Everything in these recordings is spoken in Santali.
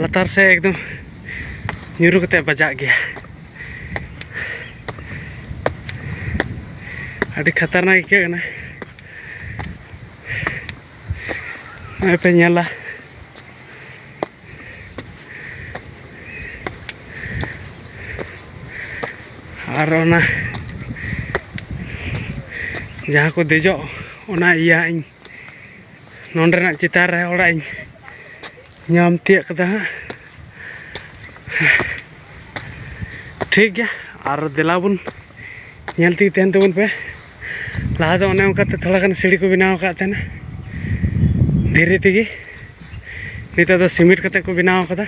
ᱞᱟᱛᱟᱨ ᱥᱮᱫ ᱮᱠᱫᱚᱢ ᱧᱩᱨᱩ ᱠᱟᱛᱮ ᱵᱟᱡᱟᱜ ᱜᱮᱭᱟ ᱟᱹᱰᱤ ᱠᱷᱟᱛᱟᱨᱱᱟᱠ ᱟᱹᱭᱠᱟᱹᱜ ᱠᱟᱱᱟ ᱱᱚᱜᱼᱚᱭ ᱯᱮ ᱧᱮᱞᱟ ᱟᱨ ᱚᱱᱟ ᱡᱟᱦᱟᱸ ᱠᱚ ᱫᱮᱡᱚᱜ ᱚᱱᱟ ᱤᱭᱟᱹ ᱤᱧ ᱱᱚᱸᱰᱮᱱᱟᱜ ᱪᱮᱛᱟᱱ ᱨᱮ ᱚᱲᱟᱜ ᱤᱧ ᱧᱟᱢ ᱛᱤᱭᱟᱹᱜ ᱠᱟᱫᱟ ᱦᱟᱸᱜ ᱴᱷᱤᱠ ᱜᱮᱭᱟ ᱟᱨ ᱫᱮᱞᱟ ᱵᱚᱱ ᱧᱮᱞ ᱛᱮᱜᱮ ᱛᱟᱦᱮᱱ ᱛᱟᱵᱚᱱ ᱯᱮ ᱞᱟᱦᱟ ᱫᱚ ᱚᱱᱮ ᱚᱱᱠᱟᱛᱮ ᱛᱷᱚᱲᱟ ᱜᱟᱱ ᱥᱤᱲᱤ ᱠᱚ ᱵᱮᱱᱟᱣ ᱟᱠᱟᱫ ᱛᱟᱦᱮᱱᱟ ᱫᱷᱤᱨᱤ ᱛᱮᱜᱮ ᱱᱤᱛᱚᱜ ᱫᱚ ᱥᱤᱢᱮᱱᱴ ᱠᱟᱛᱮ ᱠᱚ ᱵᱮᱱᱟᱣ ᱠᱟᱫᱟ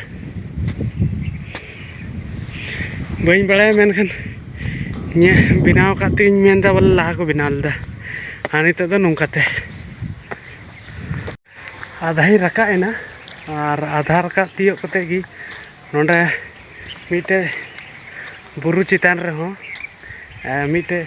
ᱵᱟᱹᱧ ᱵᱟᱲᱟᱭᱟ ᱢᱮᱱᱠᱷᱟᱱ ᱤᱧᱟᱹᱜ ᱵᱮᱱᱟᱣ ᱠᱟᱜ ᱛᱤᱧ ᱢᱮᱱᱫᱟ ᱵᱚᱞᱮ ᱞᱟᱦᱟ ᱠᱚ ᱵᱮᱱᱟᱣ ᱞᱮᱫᱟ ᱟᱨ ᱱᱤᱛᱚᱜ ᱫᱚ ᱱᱚᱝᱠᱟᱛᱮ ᱟᱫᱷᱟᱧ ᱨᱟᱠᱟᱵ ᱮᱱᱟ ᱟᱨ ᱟᱫᱷᱟ ᱨᱟᱠᱟᱵ ᱛᱤᱭᱳᱜ ᱠᱟᱛᱮ ᱜᱮ ᱱᱚᱰᱮ ᱢᱤᱫᱴᱮᱡ ᱵᱩᱨᱩ ᱪᱮᱛᱟᱱ ᱨᱮᱦᱚᱸ ᱢᱤᱫᱴᱮᱡ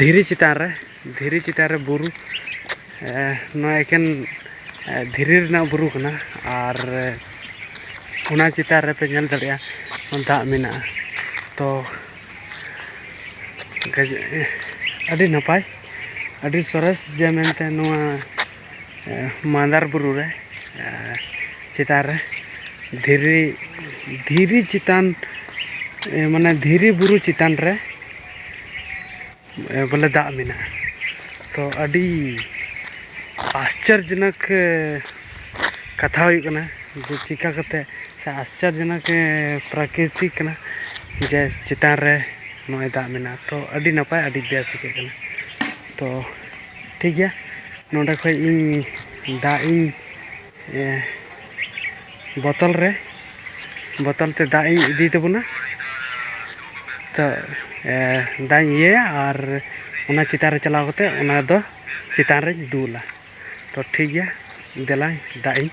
ᱫᱷᱤᱨᱤ ᱪᱮᱛᱟᱱ ᱨᱮ ᱫᱷᱤᱨᱤ ᱪᱮᱛᱟᱱ ᱨᱮ ᱵᱩᱨᱩ ᱱᱚᱣᱟ ᱮᱠᱮᱱ ᱫᱷᱤᱨᱤ ᱨᱮᱱᱟᱜ ᱵᱩᱨᱩ ᱠᱟᱱᱟ ᱟᱨ ᱚᱱᱟ ᱪᱮᱛᱟᱱ ᱨᱮᱯᱮ ᱧᱮᱞ ᱫᱟᱲᱮᱭᱟᱜᱼᱟ ᱫᱟᱜ ᱢᱮᱱᱟᱜᱼᱟ ᱛᱚ ᱟᱹᱰᱤ ᱱᱟᱯᱟᱭ ᱟᱹᱰᱤ ᱥᱚᱨᱮᱥ ᱡᱮ ᱢᱮᱱᱛᱮ ᱱᱚᱣᱟ ᱢᱟᱫᱟᱨ ᱵᱩᱨᱩ ᱨᱮ ᱪᱮᱛᱟᱱ ᱨᱮ ᱫᱷᱤᱨᱤ ᱫᱷᱤᱨᱤ ᱪᱮᱛᱟᱱ ᱢᱟᱱᱮ ᱫᱷᱤᱨᱤ ᱵᱩᱨᱩ ᱪᱮᱛᱟᱱ ᱨᱮ ᱵᱚᱞᱮ ᱫᱟᱜ ᱢᱮᱱᱟᱜᱼᱟ ᱛᱚ ᱟᱹᱰᱤ ᱟᱥᱪᱚᱨᱡᱚᱱᱚᱠ ᱠᱟᱛᱷᱟ ᱦᱩᱭᱩᱜ ᱠᱟᱱᱟ ᱡᱮ ᱪᱤᱠᱟᱹ ᱠᱟᱛᱮ ᱥᱮ ᱟᱥᱪᱚᱨᱡᱚᱱᱚᱠ ᱯᱨᱟᱠᱨᱤᱛᱤ ᱠᱟᱱᱟ ᱡᱮ ᱪᱮᱛᱟᱱ ᱨᱮ ᱱᱚᱜᱼᱚᱸᱭ ᱫᱟᱜ ᱢᱮᱱᱟᱜᱼᱟ ᱛᱚ ᱟᱹᱰᱤ ᱱᱟᱯᱟᱭ ᱟᱹᱰᱤ ᱵᱮᱥ ᱟᱹᱭᱠᱟᱹᱜ ᱠᱟᱱᱟ ᱛᱚ ᱴᱷᱤᱠ ᱜᱮᱭᱟ ᱱᱚᱰᱮ ᱠᱷᱚᱡ ᱤᱧ ᱫᱟᱜ ᱤᱧ ᱵᱚᱛᱚᱞ ᱨᱮ ᱵᱚᱛᱚᱞ ᱛᱮ ᱫᱟᱜ ᱤᱧ ᱤᱫᱤᱭ ᱛᱟᱵᱚᱱᱟ ᱛᱚ ᱫᱟᱜ ᱤᱧ ᱤᱭᱟᱹᱭᱟ ᱟᱨ ᱚᱱᱟ ᱪᱮᱛᱟᱱ ᱨᱮ ᱪᱟᱞᱟᱣ ᱠᱟᱛᱮ ᱚᱱᱟ ᱫᱚ ᱪᱮᱛᱟᱱ ᱨᱮᱧ ᱫᱩᱞᱟ ᱛᱚ ᱴᱷᱤᱠ ᱜᱮᱭᱟ ᱫᱮᱞᱟᱧ ᱫᱟᱜ ᱤᱧ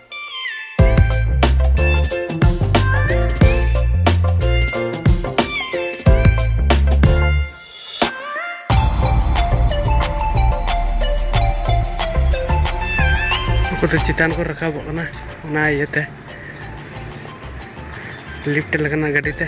ᱠᱚᱫᱚ ᱪᱮᱛᱟᱱ ᱠᱚ ᱨᱟᱠᱟᱵᱚᱜ ᱠᱟᱱᱟ ᱚᱱᱟ ᱤᱭᱟᱹᱛᱮ ᱞᱤᱯᱷᱴ ᱞᱮᱠᱟᱱᱟᱜ ᱜᱟᱹᱰᱤ ᱛᱮ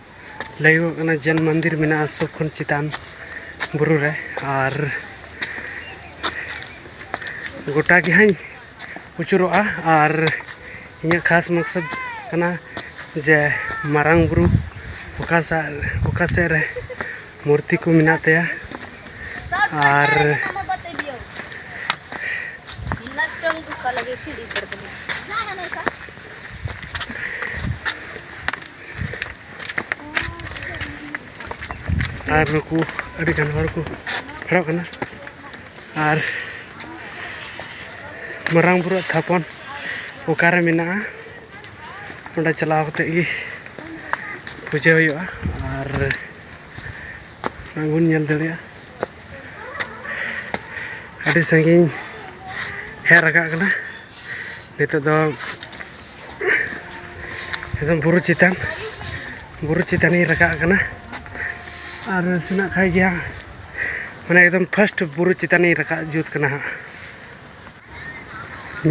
ᱞᱟᱹᱭᱚᱜ ᱠᱟᱱᱟ ᱡᱮᱱ ᱢᱚᱱᱫᱤᱨ ᱢᱮᱱᱟᱜᱼᱟ ᱥᱚᱵ ᱠᱷᱚᱱ ᱪᱮᱛᱟᱱ ᱵᱩᱨᱩ ᱨᱮ ᱟᱨ ᱜᱚᱴᱟ ᱜᱮ ᱦᱟᱸᱜ ᱟᱹᱪᱩᱨᱚᱜᱼᱟ ᱟᱨ ᱤᱧᱟᱹᱜ ᱠᱷᱟᱥ ᱢᱚᱠᱥᱚᱫ ᱠᱟᱱᱟ ᱡᱮ ᱢᱟᱨᱟᱝ ᱵᱩᱨᱩ ᱚᱠᱟ ᱥᱟ ᱚᱠᱟ ᱥᱮᱫ ᱨᱮ ᱢᱩᱨᱛᱤ ᱠᱚ ᱢᱮᱱᱟᱜ ᱛᱟᱭᱟ ᱟᱨ ᱟᱨ ᱱᱩᱠᱩ ᱟᱹᱰᱤ ᱜᱟᱱ ᱦᱚᱲ ᱠᱚ ᱯᱷᱮᱰᱚᱜ ᱠᱟᱱᱟ ᱟᱨ ᱢᱟᱨᱟᱝ ᱵᱩᱨᱩ ᱛᱷᱟᱯᱚᱱ ᱚᱠᱟᱨᱮ ᱢᱮᱱᱟᱜᱼᱟ ᱚᱸᱰᱮ ᱪᱟᱞᱟᱣ ᱠᱟᱛᱮ ᱜᱮ ᱯᱩᱡᱟᱹ ᱦᱩᱭᱩᱜᱼᱟ ᱟᱨ ᱵᱚᱱ ᱧᱮᱞ ᱫᱟᱲᱮᱭᱟᱜᱼᱟ ᱟᱹᱰᱤ ᱥᱟᱺᱜᱤᱧ ᱦᱮᱡ ᱨᱟᱠᱟᱵ ᱠᱟᱱᱟ ᱱᱤᱛᱚᱜ ᱫᱚ ᱮᱠᱫᱚᱢ ᱵᱩᱨᱩ ᱪᱮᱛᱟᱱ ᱵᱩᱨᱩ ᱪᱮᱛᱟᱱᱤᱧ ᱨᱟᱠᱟᱵ ᱠᱟᱱᱟ ᱟᱨ ᱥᱮᱱᱟᱜ ᱠᱷᱟᱡ ᱜᱮᱭᱟ ᱢᱟᱱᱮ ᱮᱠᱫᱚᱢ ᱯᱷᱟᱥᱴ ᱵᱩᱨᱩ ᱪᱮᱛᱟᱱᱤᱧ ᱨᱟᱠᱟᱵ ᱡᱩᱛ ᱠᱟᱱᱟ ᱦᱟᱸᱜ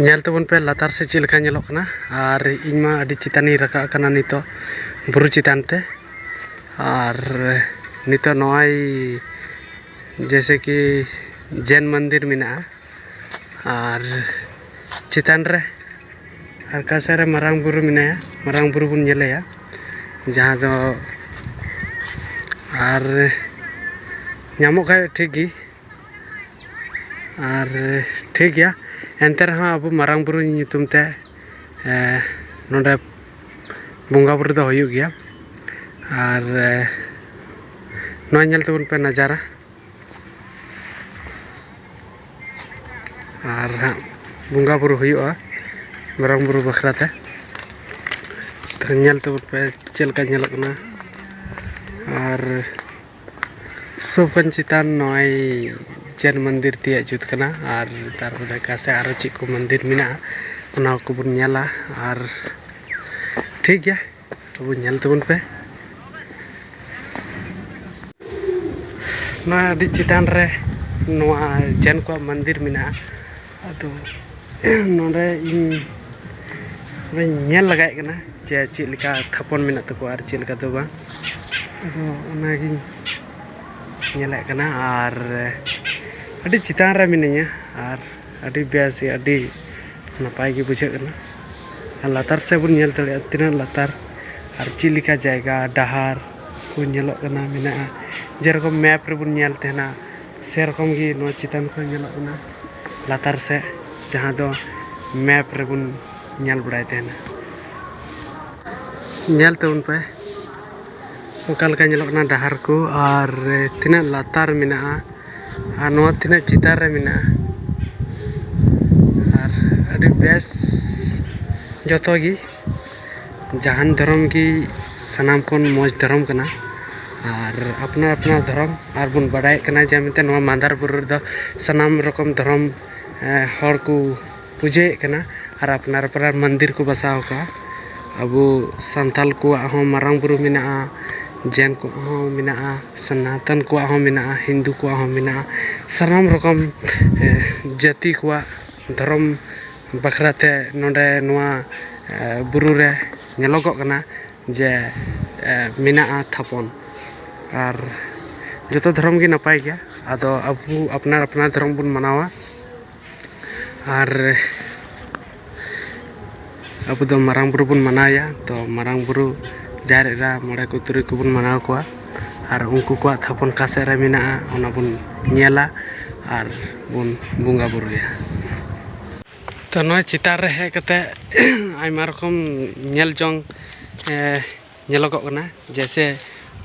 ᱧᱮᱞ ᱛᱟᱵᱚᱱ ᱯᱮ ᱞᱟᱛᱟᱨ ᱥᱮ ᱪᱮᱫ ᱞᱮᱠᱟ ᱧᱮᱞᱚᱜ ᱠᱟᱱᱟ ᱟᱨ ᱤᱧ ᱢᱟ ᱟᱹᱰᱤ ᱪᱮᱛᱟᱱᱤᱧ ᱨᱟᱠᱟᱵ ᱠᱟᱱᱟ ᱱᱤᱛᱚᱜ ᱵᱩᱨᱩ ᱪᱮᱛᱟᱱ ᱛᱮ ᱟᱨ ᱱᱤᱛᱚᱜ ᱱᱚᱜᱼᱚᱭ ᱡᱮᱭᱥᱮ ᱠᱤ ᱡᱮᱱ ᱢᱚᱱᱫᱤᱨ ᱢᱮᱱᱟᱜᱼᱟ ᱟᱨ ᱪᱮᱛᱟᱱ ᱨᱮ ᱟᱠᱟ ᱥᱮᱫ ᱨᱮ ᱢᱟᱨᱟᱝ ᱵᱩᱨᱩ ᱢᱮᱱᱟᱭᱟ ᱢᱟᱨᱟᱝ ᱵᱩᱨᱩ ᱵᱚᱱ ᱧᱮᱞᱮᱭᱟ ᱡᱟᱦᱟᱸ ᱫᱚ ᱟᱨ ᱧᱟᱢᱚᱜ ᱠᱷᱟᱡ ᱴᱷᱤᱠ ᱜᱮ ᱟᱨ ᱴᱷᱤᱠ ᱜᱮᱭᱟ ᱮᱱᱛᱮ ᱨᱮᱦᱚᱸ ᱟᱵᱚ ᱢᱟᱨᱟᱝ ᱵᱩᱨᱩ ᱧᱩᱛᱩᱢ ᱛᱮ ᱱᱚᱰᱮ ᱵᱚᱸᱜᱟ ᱵᱳᱨᱳ ᱫᱚ ᱦᱩᱭᱩᱜ ᱜᱮᱭᱟ ᱟᱨ ᱱᱚᱣᱟ ᱧᱮᱞ ᱛᱟᱵᱚᱱ ᱯᱮ ᱱᱟᱡᱟᱨᱟ ᱟᱨ ᱦᱟᱸᱜ ᱵᱚᱸᱜᱟ ᱵᱩᱨᱩ ᱦᱩᱭᱩᱜᱼᱟ ᱢᱟᱨᱟᱝ ᱵᱩᱨᱩ ᱵᱟᱠᱷᱨᱟ ᱛᱮ ᱧᱮᱞ ᱛᱟᱵᱚᱱ ᱯᱮ ᱪᱮᱫ ᱞᱮᱠᱟ ᱧᱮᱞᱚᱜ ᱠᱟᱱᱟ ᱟᱨ ᱥᱚᱵᱠᱷᱚᱱ ᱪᱮᱛᱟᱱ ᱱᱚᱜᱼᱚᱭ ᱡᱮᱱ ᱢᱚᱱᱫᱤᱨ ᱛᱮᱭᱟᱜ ᱡᱩᱛ ᱠᱟᱱᱟ ᱟᱨ ᱛᱟᱨᱯᱚᱨ ᱫᱷᱟᱠᱟ ᱥᱮ ᱟᱨᱚ ᱪᱮᱫ ᱠᱚ ᱢᱚᱱᱫᱤᱨ ᱢᱮᱱᱟᱜᱼᱟ ᱚᱱᱟ ᱠᱚᱵᱚᱱ ᱧᱮᱞᱟ ᱟᱨ ᱴᱷᱤᱠ ᱜᱮᱭᱟ ᱛᱚᱵᱩ ᱧᱮᱞ ᱛᱟᱵᱚᱱ ᱯᱮ ᱱᱚᱣᱟ ᱟᱹᱰᱤ ᱪᱮᱛᱟᱱ ᱨᱮ ᱱᱚᱣᱟ ᱡᱮᱱ ᱠᱚᱣᱟᱜ ᱢᱚᱱᱫᱤᱨ ᱢᱮᱱᱟᱜᱼᱟ ᱟᱫᱚ ᱱᱚᱰᱮ ᱤᱧ ᱚᱱᱟᱧ ᱧᱮᱞ ᱞᱟᱜᱟᱭᱮᱫ ᱠᱟᱱᱟ ᱡᱮ ᱪᱮᱫ ᱞᱮᱠᱟ ᱛᱷᱟᱯᱚᱱ ᱢᱮᱱᱟᱜ ᱛᱟᱠᱚᱣᱟ ᱟᱨ ᱪᱮᱫ ᱞᱮᱠᱟ ᱫᱚ ᱵᱟᱝ ᱟᱫᱚ ᱚᱱᱟᱜᱤᱧ ᱧᱮᱞᱮᱫ ᱠᱟᱱᱟ ᱟᱨ ᱟᱹᱰᱤ ᱪᱮᱛᱟᱱ ᱨᱮ ᱢᱤᱱᱟᱹᱧᱟ ᱟᱨ ᱟᱹᱰᱤ ᱵᱮᱥ ᱜᱮ ᱟᱹᱰᱤ ᱱᱟᱯᱟᱭ ᱜᱮ ᱵᱩᱡᱷᱟᱹᱜ ᱠᱟᱱᱟ ᱟᱨ ᱞᱟᱛᱟᱨ ᱥᱮᱫ ᱵᱚᱱ ᱧᱮᱞ ᱫᱟᱲᱮᱭᱟᱜᱼᱟ ᱛᱤᱱᱟᱹᱜ ᱞᱟᱛᱟᱨ ᱟᱨ ᱪᱮᱫ ᱞᱮᱠᱟ ᱡᱟᱭᱜᱟ ᱰᱟᱦᱟᱨ ᱠᱚ ᱧᱮᱞᱚᱜ ᱠᱟᱱᱟ ᱢᱮᱱᱟᱜᱼᱟ ᱡᱮᱨᱚᱠᱚᱢ ᱢᱮᱯ ᱨᱮᱵᱚᱱ ᱧᱮᱞ ᱛᱟᱦᱮᱱᱟ ᱥᱮᱨᱚᱠᱚᱢ ᱜᱮ ᱱᱚᱣᱟ ᱪᱮᱛᱟᱱ ᱠᱷᱚᱱ ᱧᱮᱞᱚᱜ ᱠᱟᱱᱟ ᱞᱟᱛᱟᱨ ᱥᱮᱫ ᱡᱟᱦᱟᱸ ᱫᱚ ᱢᱮᱯ ᱨᱮᱵᱚᱱ ᱧᱮᱞ ᱵᱟᱲᱟᱭ ᱛᱟᱦᱮᱱᱟ ᱧᱮᱞ ᱛᱟᱵᱚᱱ ᱯᱮ ᱚᱠᱟ ᱞᱮᱠᱟ ᱧᱮᱞᱚᱜ ᱠᱟᱱᱟ ᱰᱟᱦᱟᱨ ᱠᱚ ᱟᱨ ᱛᱤᱱᱟᱹᱜ ᱞᱟᱛᱟᱨ ᱢᱮᱱᱟᱜᱼᱟ ᱟᱨ ᱱᱚᱣᱟ ᱛᱤᱱᱟᱹᱜ ᱪᱮᱛᱟᱱ ᱨᱮ ᱢᱮᱱᱟᱜᱼᱟ ᱟᱨ ᱟᱹᱰᱤ ᱵᱮᱥ ᱡᱚᱛᱚ ᱜᱮ ᱡᱟᱦᱟᱱ ᱫᱷᱚᱨᱚᱢ ᱜᱮ ᱥᱟᱱᱟᱢ ᱠᱷᱚᱱ ᱢᱚᱡᱽ ᱫᱷᱚᱨᱚᱢ ᱠᱟᱱᱟ ᱟᱨ ᱟᱯᱱᱟᱨ ᱟᱯᱱᱟᱨ ᱫᱷᱚᱨᱚᱢ ᱟᱨ ᱵᱚᱱ ᱵᱟᱲᱟᱭᱮᱫ ᱠᱟᱱᱟ ᱡᱮ ᱢᱮᱱᱛᱮ ᱱᱚᱣᱟ ᱢᱟᱫᱷᱟᱨ ᱵᱩᱨᱩ ᱨᱮᱫᱚ ᱥᱟᱱᱟᱢ ᱨᱚᱠᱚᱢ ᱫᱷᱚᱨᱚᱢ ᱦᱚᱲ ᱠᱚ ᱯᱩᱡᱟᱹᱭᱮᱫ ᱠᱟᱱᱟ ᱟᱨ ᱟᱯᱱᱟᱨ ᱟᱯᱱᱟᱨ ᱢᱚᱱᱫᱤᱨ ᱠᱚ ᱵᱟᱥᱟᱣ ᱟᱠᱟᱫᱼᱟ ᱟᱵᱚ ᱥᱟᱱᱛᱟᱲ ᱠᱚᱣᱟᱜ ᱦᱚᱸ ᱢᱟᱨᱟᱝ ᱵᱩᱨᱩ ᱢᱮᱱᱟᱜᱼᱟ ᱡᱮᱱ ᱠᱚᱣᱟᱜ ᱦᱚᱸ ᱢᱮᱱᱟᱜᱼᱟ ᱥᱚᱱᱟᱛᱚᱱ ᱠᱚᱣᱟᱜ ᱦᱚᱸ ᱢᱮᱱᱟᱜᱼᱟ ᱦᱤᱱᱫᱩ ᱠᱚᱣᱟᱜ ᱦᱚᱸ ᱢᱮᱱᱟᱜᱼᱟ ᱥᱟᱱᱟᱢ ᱨᱚᱠᱚᱢ ᱡᱟᱹᱛᱤ ᱠᱚᱣᱟᱜ ᱫᱷᱚᱨᱚᱢ ᱵᱟᱠᱷᱨᱟ ᱛᱮ ᱱᱚᱰᱮ ᱱᱚᱣᱟ ᱵᱩᱨᱩ ᱨᱮ ᱧᱮᱞᱚᱜᱚᱜ ᱠᱟᱱᱟ ᱡᱮ ᱢᱮᱱᱟᱜᱼᱟ ᱛᱷᱟᱯᱚᱱ ᱟᱨ ᱡᱚᱛᱚ ᱫᱷᱚᱨᱚᱢ ᱜᱮ ᱱᱟᱯᱟᱭ ᱜᱮᱭᱟ ᱟᱫᱚ ᱟᱵᱚ ᱟᱯᱱᱟᱨ ᱟᱯᱱᱟᱨ ᱫᱷᱚᱨᱚᱢ ᱵᱚᱱ ᱢᱟᱱᱟᱣᱟ ᱟᱨ ᱟᱵᱚ ᱫᱚ ᱢᱟᱨᱟᱝ ᱵᱩᱨᱩ ᱵᱚᱱ ᱢᱟᱱᱟᱣᱮᱭᱟ ᱛᱚ ᱢᱟᱨᱟᱝ ᱵᱩᱨᱩ ᱡᱟᱦᱮᱨ ᱮᱨᱟ ᱢᱚᱬᱮ ᱠᱚ ᱛᱩᱨᱩᱭ ᱠᱚᱵᱚᱱ ᱢᱟᱱᱟᱣ ᱠᱚᱣᱟ ᱟᱨ ᱩᱱᱠᱩ ᱠᱚᱣᱟᱜ ᱛᱷᱟᱯᱚᱱ ᱚᱠᱟ ᱥᱮᱫ ᱨᱮ ᱢᱮᱱᱟᱜᱼᱟ ᱚᱱᱟ ᱵᱚᱱ ᱧᱮᱞᱟ ᱟᱨ ᱵᱚᱱ ᱵᱚᱸᱜᱟ ᱵᱳᱨᱳᱭᱟ ᱛᱚ ᱱᱚᱣᱟ ᱪᱮᱛᱟᱱ ᱨᱮ ᱦᱮᱡ ᱠᱟᱛᱮ ᱟᱭᱢᱟ ᱨᱚᱠᱚᱢ ᱧᱮᱞ ᱡᱚᱝ ᱧᱮᱞᱚᱜᱚᱜ ᱠᱟᱱᱟ ᱡᱮᱭᱥᱮ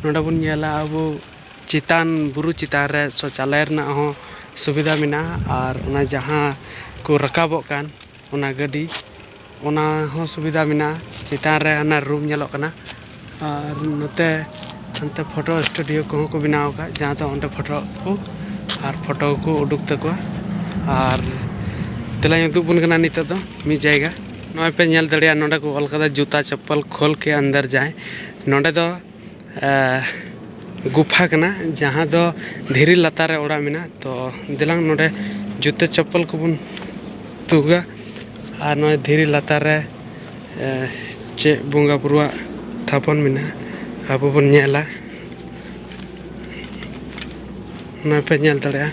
ᱱᱚᱰᱮ ᱵᱚᱱ ᱧᱮᱞᱟ ᱟᱵᱚ ᱪᱮᱛᱟᱱ ᱵᱩᱨᱩ ᱪᱮᱛᱟᱱ ᱨᱮ ᱥᱳᱪᱟᱞᱚᱭ ᱨᱮᱱᱟᱜ ᱦᱚᱸ ᱥᱩᱵᱤᱫᱷᱟ ᱢᱮᱱᱟᱜᱼᱟ ᱟᱨ ᱚᱱᱟ ᱡᱟᱦᱟᱸ ᱠᱚ ᱨᱟᱠᱟᱵᱚᱜ ᱠᱟᱱ ᱚᱱᱟ ᱜᱟᱹᱰᱤ ᱚᱱᱟ ᱦᱚᱸ ᱥᱩᱵᱤᱫᱷᱟ ᱢᱮᱱᱟᱜᱼᱟ ᱪᱮᱛᱟᱱ ᱨᱮ ᱦᱟᱱᱟ ᱨᱩᱢ ᱧᱮᱞᱚᱜ ᱠᱟᱱᱟ ᱟᱨ ᱱᱚᱛᱮ ᱦᱟᱱᱛᱮ ᱯᱷᱳᱴᱳ ᱥᱴᱩᱰᱤᱭᱳ ᱠᱚᱦᱚᱸ ᱠᱚ ᱵᱮᱱᱟᱣ ᱟᱠᱟᱫ ᱡᱟᱦᱟᱸ ᱫᱚ ᱚᱸᱰᱮ ᱯᱷᱳᱴᱳ ᱠᱚ ᱟᱨ ᱯᱷᱳᱴᱳ ᱠᱚ ᱩᱰᱩᱠ ᱛᱟᱠᱚᱣᱟ ᱟᱨ ᱛᱮᱞᱟᱧ ᱩᱫᱩᱜ ᱟᱵᱚᱱ ᱠᱟᱱᱟ ᱱᱤᱛᱚᱜ ᱫᱚ ᱢᱤᱫ ᱡᱟᱭᱜᱟ ᱱᱚᱜᱼᱚᱭ ᱯᱮ ᱧᱮᱞ ᱫᱟᱲᱮᱭᱟᱜᱼᱟ ᱱᱚᱰᱮ ᱠᱚ ᱚᱞ ᱠᱟᱫᱟ ᱡᱩᱛᱟ ᱪᱚᱯᱯᱚᱞ ᱠᱷᱳᱞ ᱠᱮ ᱟᱱᱫᱟᱨ ᱡᱟᱭ ᱱᱚᱰᱮ ᱫᱚ ᱜᱩᱯᱷᱟ ᱠᱟᱱᱟ ᱡᱟᱦᱟᱸ ᱫᱚ ᱫᱷᱤᱨᱤ ᱞᱟᱛᱟᱨ ᱨᱮ ᱚᱲᱟᱜ ᱢᱮᱱᱟᱜᱼᱟ ᱛᱚ ᱫᱮᱞᱟᱝ ᱱᱚᱰᱮ ᱡᱩᱛᱟᱹ ᱪᱚᱯᱯᱚᱞ ᱠᱚᱵᱚᱱ ᱛᱩᱜᱟ ᱟᱨ ᱱᱚᱜᱼᱚᱭ ᱫᱷᱤᱨᱤ ᱞᱟᱛᱟᱨ ᱨᱮ ᱪᱮᱫ ᱵᱚᱸᱜᱟ ᱵᱩᱨᱩᱣᱟᱜ ᱛᱷᱟᱯᱚᱱ ᱢᱮᱱᱟᱜᱼᱟ ᱟᱵᱚ ᱵᱚᱱ ᱧᱮᱞᱟ ᱱᱚᱜᱼᱚᱭ ᱯᱮ ᱧᱮᱞ ᱫᱟᱲᱮᱭᱟᱜᱼᱟ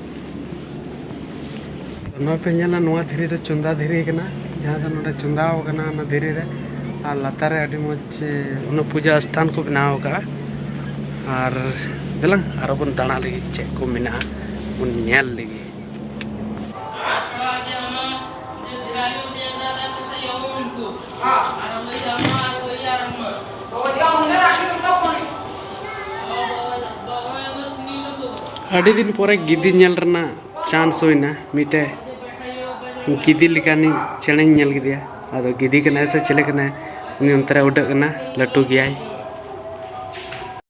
ᱱᱚᱣᱟ ᱯᱮ ᱧᱮᱞᱟ ᱱᱚᱣᱟ ᱫᱷᱤᱨᱤ ᱫᱚ ᱪᱚᱸᱫᱟ ᱫᱷᱤᱨᱤ ᱠᱟᱱᱟ ᱡᱟᱦᱟᱸ ᱫᱚ ᱱᱚᱰᱮ ᱪᱚᱸᱫᱟᱣ ᱠᱟᱱᱟ ᱚᱱᱟ ᱫᱷᱤᱨᱤ ᱨᱮ ᱟᱨ ᱞᱟᱛᱟᱨ ᱨᱮ ᱟᱹᱰᱤ ᱢᱚᱡᱽ ᱚᱱᱟ ᱯᱩᱡᱟ ᱥᱛᱷᱟᱱ ᱠᱚ ᱵᱮᱱᱟᱣ ᱠᱟᱜᱼᱟ ᱟᱨ ᱫᱮᱞᱟᱝ ᱟᱨᱚ ᱵᱚᱱ ᱫᱟᱬᱟ ᱞᱟᱹᱜᱤᱫ ᱪᱮᱫ ᱠᱚ ᱢᱮᱱᱟᱜᱼᱟ ᱵᱚᱱ ᱧᱮᱞ ᱞᱟᱹᱜᱤᱫ ᱟᱹᱰᱤ ᱫᱤᱱ ᱯᱚᱨᱮ ᱜᱤᱫᱤ ᱧᱮᱞ ᱨᱮᱱᱟᱜ ᱪᱟᱱᱥ ᱦᱩᱭᱱᱟ ᱢᱤᱫᱴᱮᱡ ᱜᱤᱫᱤ ᱞᱮᱠᱟᱱᱤᱡ ᱪᱮᱬᱮᱧ ᱧᱮᱞ ᱠᱮᱫᱮᱭᱟ ᱟᱫᱚ ᱜᱤᱫᱤ ᱠᱟᱱᱟᱭ ᱥᱮ ᱪᱮᱞᱮ ᱠᱟᱱᱟᱭ ᱩᱱᱤ ᱚᱱᱛᱮ ᱨᱮ ᱩᱰᱟᱹᱜ ᱠᱟᱱᱟ ᱞᱟᱹᱴᱩ ᱜᱮᱭᱟᱭ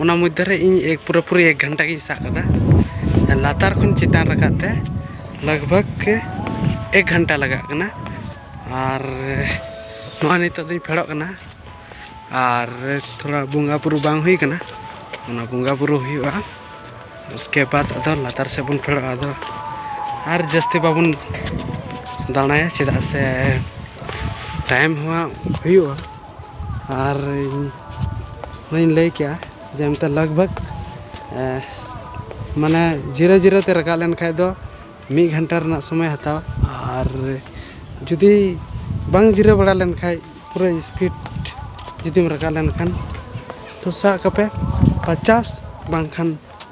ᱚᱱᱟ ᱢᱚᱫᱽᱫᱷᱮ ᱨᱮ ᱤᱧ ᱮᱠ ᱯᱩᱨᱟᱹ ᱯᱩᱨᱤ ᱮᱠ ᱜᱷᱚᱱᱴᱟ ᱜᱤᱧ ᱥᱟᱵ ᱠᱟᱫᱟ ᱞᱟᱛᱟᱨ ᱠᱷᱚᱱ ᱪᱮᱛᱟᱱ ᱨᱟᱠᱟᱵ ᱛᱮ ᱞᱟᱜᱽ ᱵᱷᱟᱜᱽ ᱮᱠ ᱜᱷᱚᱱᱴᱟ ᱞᱟᱜᱟᱜ ᱠᱟᱱᱟ ᱟᱨ ᱱᱚᱣᱟ ᱱᱤᱛᱚᱜ ᱫᱚᱧ ᱯᱷᱮᱰᱚᱜ ᱠᱟᱱᱟ ᱟᱨ ᱛᱷᱚᱲᱟ ᱵᱚᱸᱜᱟ ᱵᱩᱨᱩ ᱵᱟᱝ ᱦᱩᱭ ᱠᱟᱱᱟ ᱚᱱᱟ ᱵᱚᱸᱜᱟ ᱵᱩᱨᱩ ᱦᱩᱭᱩᱜᱼᱟ ᱩᱥᱠᱮ ᱵᱟᱫ ᱟᱫᱚ ᱞᱟᱛᱟᱨ ᱥᱮᱫ ᱵᱚᱱ ᱯᱷᱮᱰᱚᱜᱼᱟ ᱟᱫᱚ ᱟᱨ ᱡᱟᱹᱥᱛᱤ ᱵᱟᱵᱚᱱ ᱫᱟᱬᱟᱭᱟ ᱪᱮᱫᱟᱜ ᱥᱮ ᱴᱟᱭᱤᱢ ᱦᱚᱸ ᱦᱩᱭᱩᱜᱼᱟ ᱟᱨ ᱚᱱᱟᱧ ᱞᱟᱹᱭ ᱠᱮᱜᱼᱟ ᱡᱮ ᱚᱱᱛᱮ ᱞᱟᱜᱽ ᱵᱷᱟᱜᱽ ᱢᱟᱱᱮ ᱡᱤᱨᱟᱹ ᱡᱤᱨᱟᱹ ᱛᱮ ᱨᱟᱠᱟᱵ ᱞᱮᱱᱠᱷᱟᱡ ᱫᱚ ᱢᱤᱫ ᱜᱷᱚᱱᱴᱟ ᱨᱮᱱᱟᱜ ᱥᱚᱢᱚᱭ ᱦᱟᱛᱟᱣᱟ ᱟᱨ ᱡᱩᱫᱤ ᱵᱟᱝ ᱡᱤᱨᱟᱹᱣ ᱵᱟᱲᱟ ᱞᱮᱱᱠᱷᱟᱡ ᱯᱩᱨᱟᱹ ᱤᱥᱯᱤᱰ ᱡᱩᱫᱤᱢ ᱨᱟᱠᱟᱵ ᱞᱮᱱᱠᱷᱟᱱ ᱛᱚ ᱥᱟᱵ ᱠᱟᱛᱮᱫ ᱯᱚᱪᱟᱥ ᱵᱟᱝᱠᱷᱟᱱ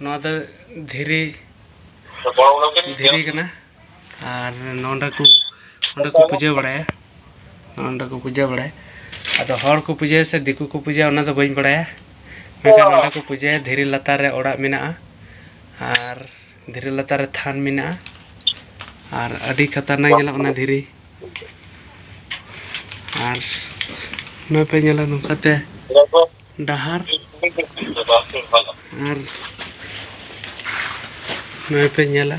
ᱱᱚᱣᱟ ᱫᱚ ᱫᱷᱤᱨᱤ ᱫᱷᱤᱨᱤ ᱠᱟᱱᱟ ᱟᱨ ᱱᱚᱰᱮ ᱠᱚ ᱱᱚᱰᱮ ᱠᱚ ᱯᱩᱡᱟᱹ ᱵᱟᱲᱟᱭᱟ ᱱᱚᱰᱮ ᱠᱚ ᱯᱩᱡᱟᱹ ᱵᱟᱲᱟᱭᱟ ᱟᱫᱚ ᱦᱚᱲ ᱠᱚ ᱯᱩᱡᱟᱹᱭᱟ ᱥᱮ ᱫᱤᱠᱩ ᱠᱚ ᱯᱩᱡᱟᱹᱭᱟ ᱚᱱᱟ ᱫᱚ ᱵᱟᱹᱧ ᱵᱟᱲᱟᱭᱟ ᱢᱮᱱᱠᱷᱟᱱ ᱱᱚᱰᱮ ᱠᱚ ᱯᱩᱡᱟᱹᱭᱟ ᱫᱷᱤᱨᱤ ᱞᱟᱛᱟᱨ ᱨᱮ ᱚᱲᱟᱜ ᱢᱮᱱᱟᱜᱼᱟ ᱟᱨ ᱫᱷᱤᱨᱤ ᱞᱟᱛᱟᱨ ᱨᱮ ᱛᱷᱟᱱ ᱢᱮᱱᱟᱜᱼᱟ ᱟᱨ ᱟᱹᱰᱤ ᱠᱷᱟᱛᱟᱨᱱᱟᱠ ᱧᱮᱞᱚᱜ ᱠᱟᱱᱟ ᱫᱷᱤᱨᱤ ᱟᱨ ᱱᱚᱣᱟ ᱯᱮ ᱧᱮᱞᱟ ᱱᱚᱝᱠᱟᱛᱮ ᱰᱟᱦᱟᱨ ᱟᱨ ᱱᱚᱣᱟ ᱯᱮ ᱧᱮᱞᱟ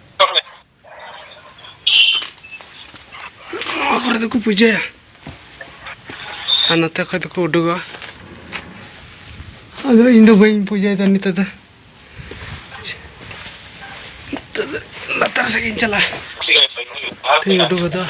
ᱱᱚᱣᱟ ᱠᱚᱨᱮ ᱫᱚᱠᱚ ᱯᱩᱡᱟᱹᱭᱟ ᱟᱨ ᱱᱚᱛᱮ ᱠᱷᱚᱡ ᱫᱚᱠᱚ ᱩᱰᱩᱠᱚᱜᱼᱟ ᱟᱫᱚ ᱤᱧ ᱫᱚ ᱵᱟᱹᱧ ᱯᱩᱡᱟᱹᱭᱮᱫᱟ ᱱᱤᱛᱚᱜ ᱫᱚ ᱱᱤᱛᱚᱜ ᱫᱚ ᱞᱟᱛᱟᱨ ᱥᱮᱫ ᱜᱤᱧ ᱪᱟᱞᱟᱜᱼᱟ ᱛᱮᱧ ᱩᱰᱩᱠ ᱜᱚᱫᱚᱜᱼᱟ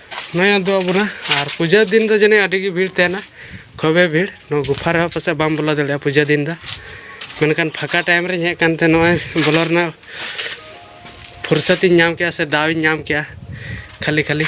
ᱱᱚᱜᱼᱚᱭ ᱟᱫᱚ ᱟᱵᱚᱱᱟ ᱟᱨ ᱯᱩᱡᱟᱹ ᱫᱤᱱ ᱫᱚ ᱡᱟᱹᱱᱤᱡ ᱟᱹᱰᱤ ᱜᱮ ᱵᱷᱤᱲ ᱛᱟᱦᱮᱱᱟ ᱠᱷᱩᱵᱮ ᱵᱷᱤᱲ ᱱᱚᱣᱟ ᱜᱩᱯᱷᱟ ᱨᱮᱦᱚᱸ ᱯᱟᱥᱮᱡ ᱵᱟᱢ ᱵᱚᱞᱚ ᱫᱟᱲᱮᱭᱟᱜᱼᱟ ᱯᱩᱡᱟᱹ ᱫᱤᱱ ᱫᱚ ᱢᱮᱱᱠᱷᱟᱱ ᱯᱷᱟᱸᱠᱟ ᱴᱟᱭᱤᱢ ᱨᱮᱧ ᱦᱮᱡ ᱠᱟᱱᱛᱮ ᱱᱚᱜᱼᱚᱭ ᱵᱚᱞᱚ ᱨᱮᱱᱟᱜ ᱯᱷᱩᱨᱥᱚᱛᱤᱧ ᱧᱟᱢ ᱠᱮᱜᱼᱟ ᱥᱮ ᱫᱟᱣ ᱤᱧ ᱧᱟᱢ ᱠᱮᱜᱼᱟ ᱠᱷᱟᱹᱞᱤ ᱠᱷᱟᱹᱞᱤ